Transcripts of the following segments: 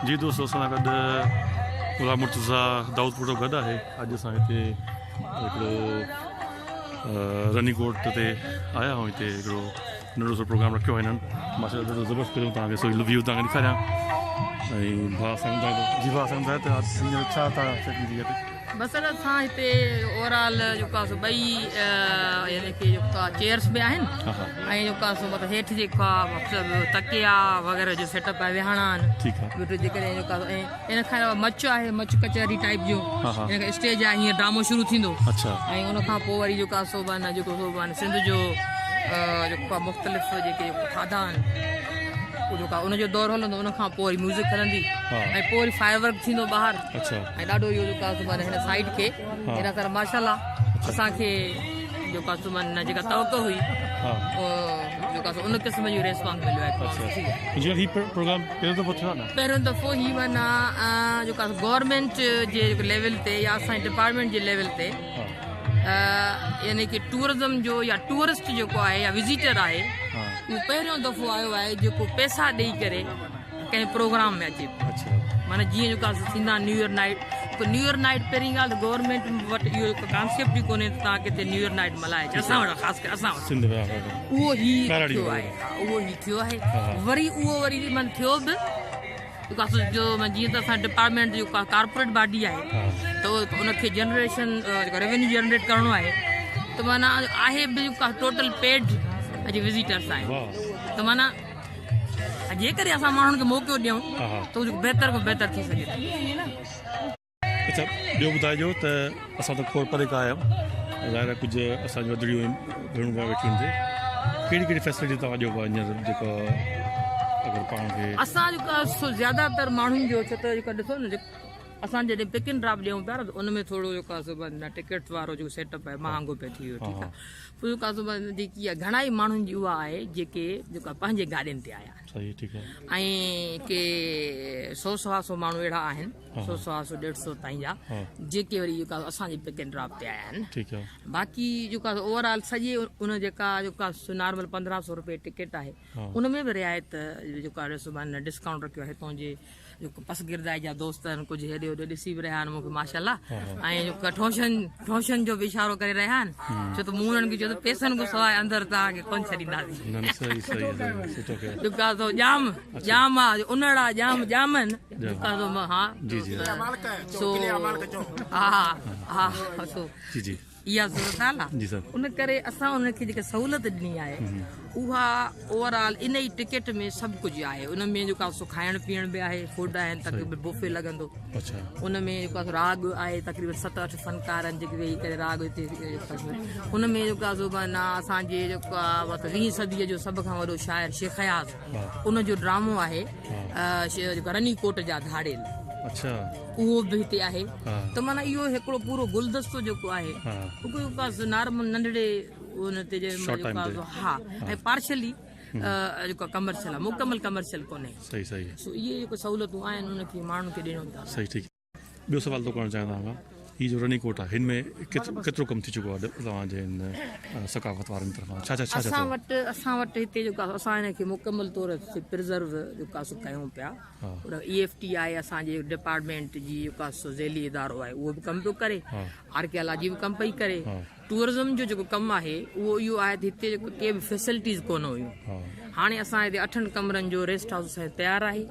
جي دوستو اسان سان گڏ غلام مرتضا داؤد پورو گڏ آهي اڄ اسان هتي هڪڙو رني ڪوٽ تي آيا آهيون هتي هڪڙو ننڍو سو پروگرام رکيو آهي هنن ماشاء الله زبردست پهريون تان کي سو ويو تان کي ڏيکاريان ۽ ڀا سان جي ڀا سان ته سينيئر ڇا تان سيٽنگ ٿي هتي بصرت سان هتي اورال جيڪا سو ٻئي يعني ڪي جيڪا چيئرس به آهن ۽ جيڪا سو مطلب هيٺ جيڪا مطلب تڪيا وغيرها جو سيٽ اپ آهي ويهڻا آهن ٺيڪ آهي ويٺو جي ڪري جيڪا ۽ ان کان علاوه مچ آهي مچ ڪچهري ٽائپ جو ان کان اسٽيج آهي هيئن ڊرامو شروع ٿيندو اچھا ۽ ان کان پوء وري جيڪا سو بان جيڪو سو بان سنڌ جو جيڪا مختلف جيڪي کاڌا آهن ان جو دور هلندو ان کان پوء وري ميوزڪ هلندي ۽ پوء وري فائر ورڪ ٿيندو ٻاهر ۽ ڏاڍو اهو جو ڪاستومن هن سائيٽ کي هن سال ماشاءالله اسان کي جو ڪاستومن نه جيڪا توقع هئي جو ڪاسو ان قسم جو ريسپانس مليو آهي جو هي پروگرام پهريون دفعو ٿيو نه پهريون دفعو هي منا جو ڪاسو گورنمنٽ جي ليول تي يا اسان ڊپارٽمنٽ جي ليول تي يعني کہ ٽورزم جو يا ٽورسٽ جو کو آهي يا وزيٽر آهي اهو پهريون دفعو آيو آهي جو ڪو پيسا ڏيئي ڪري ڪنهن پروگرام ۾ اچي اچھا معنی جي جو ڪا سينا نيو ايئر نائيٽ تو نيو ايئر نائيٽ پرين گال گورنمنٽ وٽ ايو هڪ ڪانسيپٽ ئي ڪونهي ته تان ڪٿي نيو ايئر نائيٽ ملائي جي اسان وٽ خاص ڪري اسان سنڌ ۾ آهي اهو هي ٿيو آهي اهو هي ٿيو آهي وري اهو وري من ٿيو به جو جي ته اسان ڊپارٽمنٽ جو ڪارپوريٽ باڊي آهي ته ان کي جنريشن جو ريونيو جنريٽ ڪرڻو آهي ته معنی آهي به ٽوٽل پيڊ اڄ وزيٽرس آهي ته معنی جيڪڏهن اسان ماڻهن کي موقعو ڏيون ته اهو بهتر کان بهتر ٿي سگهي ٿو. اچا ٻيو ٻڌائجو ته اسان ته کور پري کان آيا آهيون ظاهر آهي ڪجهه اسان جون وڌڙيون آهن ڀيڻون ڀا ويٺيون آهن هتي ڪهڙي ڪهڙي فيسلٽي توهان ڏيو پيا هينئر جيڪا اگر پاڻ کي اسان جيڪا زياده تر ماڻهن جو ڇو ته جيڪا ڏسو نه اسان جڏهن پڪ اينڊ ڊراپ ڏيون پيا ته ان ۾ ٿورو جيڪا سو ٽڪيٽس وارو جيڪو سيٽ اپ آهي مهانگو پئي ٿي ويو ٺيڪ آهي فلڪا زبان ۾ جيڪي آهي گهڻا ئي ماڻهن جي اها آهي جيڪي جيڪا پنهنجي گاڏين تي آيا آهن ۽ ڪي سو سوا سو ماڻهو اهڙا آهن سو سوا سو ڏيڍ سو تائين جا جيڪي وري جيڪا اسان جي پڪ اينڊ ڊراپ تي آيا آهن باقي جيڪا اوور آل سڄي ان جيڪا جيڪا نارمل پندرهن سو روپيه ٽڪيٽ آهي ان ۾ به رعايت جيڪو آهي سو معنيٰ ڊسڪائونٽ رکيو آهي هتون جي جيڪو پس گردائي جا دوست آهن ڪجهه هيڏي هوڏي ڏسي به رهيا آهن مونکي ماشاءالله ۽ جو ٺوشن ٺوشن جو به اشارو ڪري رهيا آهن ڇو ته مون انهن کي چيو ته پيسن کان سواء اندر توهان کي ڪونه ڇڏينداسين جيڪا سو ڄام ڄام آهي انڙا ڄام ڄامن جيڪا سو ها جي جي سو ها ها سو جي جي اها ضرورت آهي نا ان ڪري اسان انهن کي جيڪا سهولت ڏني آهي اها اوور آل ان ئي ٽڪيٽ ۾ سڀ ڪجهه آهي ان ۾ جيڪا سو کائڻ پيئڻ به آهي فوڊ آهن تقريبن بوفي لڳندو ان ۾ جيڪا راڳ آهي تقريبن ست اٺ فنڪار آهن جيڪي ويهي ڪري راڳ هتي ان ۾ جيڪا سو معنيٰ اسانجي جيڪا ويهين صديء جو سڀ کان وڏو شاعر شيخ اياز ان جو ڊرامو آهي رني ڪوٽ جا ڌاڙيل اهو به هتي آهي ته مانا اهو هڪڙو پورو گلدستو جيڪو آهي نارمل ننڍڙي ها ۽ پارشلي جيڪو ڪمرشل آهي مڪمل ڪمرشل ڪونهي سو اهي جيڪو سهولتون آهن ان کي ماڻهن کي ڏيڻو ٻيو سوال تو ڪرڻ چاهيان ٿا هي جو رني ڪوٽ آهي هن ۾ ڪيترو ڪم ٿي چڪو آهي توهان جي هن ثقافت وارن طرفان ڇا ڇا ڇا ڇا اسان وٽ اسان وٽ هتي جو ڪا اسان هن کي مڪمل طور تي پرزرو جو ڪا سو ڪيون پيا پر اي ايف ٽي آهي اسان جي ڊپارٽمنٽ جي جو ڪا سو ذيلي ادارو آهي اهو به ڪم پيو ڪري آرڪيالاجي به ڪم پئي ڪري ٽوئرزم جو جيڪو ڪم آهي اهو اهو آهي ته هتي جيڪو ڪي به فيسلٽيز ڪونه هيون هاڻي اسان هتي اٺن ڪمرن جو ريسٽ هائوس اسان تيار آهي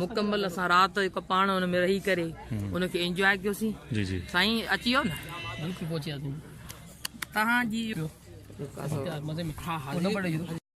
مڪمل اسان رات جيڪو پاڻ ان ۾ رهي ڪري ان کي انجواء ڪيوسين جي جي سائين اچي ويو نه بلڪل پهچي وياسين تهان جي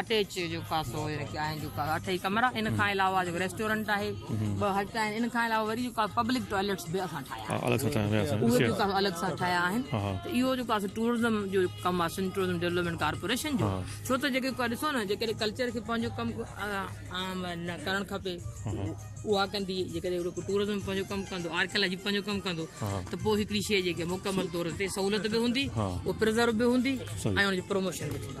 اٽيچ جو خاصو رکيا آهن جو اٺئي ڪمرا ان کان علاوه جو ريسٽورنٽ آهي ٻه هٽ آهن ان کان علاوه وري جو ڪا پبلڪ ٽوائلٽس به اسان ٺاهيا آهن الڳ سان ٺاهيا ويا سان اهي جو الڳ سان ٺاهيا آهن ته اهو جو ڪا ٽورزم جو ڪم آهي سن ٽورزم ڊيولپمنٽ ڪارپوريشن جو ڇو ته جيڪي ڪا ڏسو نه جيڪي ڪلچر کي پنهنجو ڪم عام نه ڪرڻ کپي اها ڪندي جيڪي ٽورزم پنهنجو ڪم ڪندو آرڪيالاجي پنهنجو ڪم ڪندو ته پوء هڪڙي شيء جيڪي مڪمل طور تي سهولت به هوندي او پرزرو به هوندي ۽ ان جو پروموشن به ٿيندو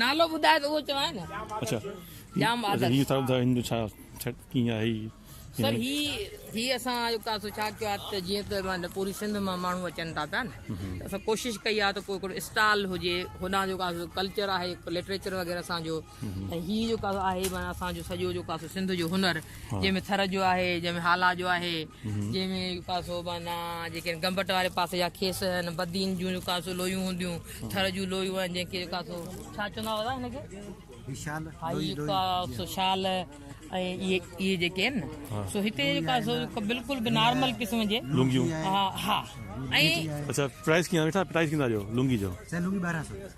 نالو ٻڌائي ته اهو چوان نه اچھا جام عادت هي سر دا هندو ڇا ڇا ڪيئن آهي سر هي هي اسان جو ڪاسو ڇا ڪيو آهي ته جيئن ته مان پوري سنڌ مان ماڻهو اچن ٿا پيا نه اسان ڪوشش ڪئي آهي ته ڪو هڪڙو اسٽال هجي هوڏانهن جو ڪاسو ڪلچر آهي لٽريچر وغيره اسان جو ۽ هي جو ڪاسو آهي معنيٰ اسان جو سڄو جو ڪاسو سنڌ جو هنر جنهن ۾ ٿر جو آهي جنهن ۾ هالا جو آهي جنهن ۾ جو ڪاسو معنيٰ جيڪي گمبٽ واري پاسي جا کيس هن بدين جون جو ڪاسو لويون هونديون ٿر جون لويون آهن جنهن کي جو ڪاسو ڇا چوندا هئا هن کي هي شال هي جو ڪاسو شال ۽ اهي اهي جيڪي آهن نه سو هتي جو ڪاسو بلڪل به نارمل قسم جي لونگيون ها ها ۽ اچھا پرائس ڪيئن وٺا پرائس ڪيئن ٿا ڏيو لونگي جو سر لونگي 1200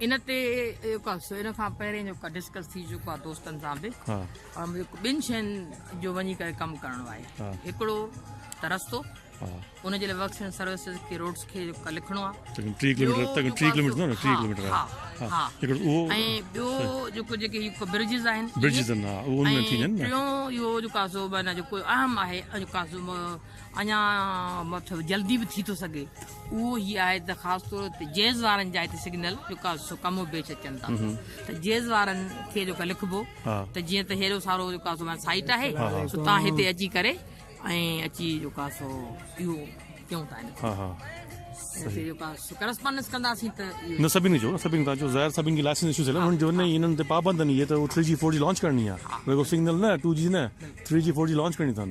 ان تي جيڪو سو ان کان پهرين جيڪو ڊسڪس ٿي چڪو آهي دوستن سان به ٻن شين جو وڃي ڪري ڪم ڪرڻو آهي هڪڙو ته رستو ان جي لاء ورڪس اينڊ سروسز کي روڊس کي لکڻو آهي ٻيو جيڪو جيڪي برجز آهن ٽيون اهو جيڪو سو اهم آهي اڃا مطلب جلدي به ٿي ٿو سگهي اهو هي آهي ته خاص طور تي جيز وارن جا هتي سگنل جيڪا سو ڪم و بيچ اچن ٿا ته جيز وارن کي جيڪا لکبو ته جيئن ته هيڏو سارو جيڪا سو سائيٽ آهي سو تان هتي اچي ڪري ۽ اچي جيڪا سو اهو ڪيون ٿا ان کي ڪرسپانڊنس ڪنداسين ته نه سڀني جو سڀني تان جو ظاهر سڀني جي لائسنس ايشو ٿيل انهن جو نه انهن تي پابند ني هي ته 3G 4G لانچ ڪرڻي آهي رڳو سگنل نه 2G نه 3G 4G لانچ ڪرڻي اٿن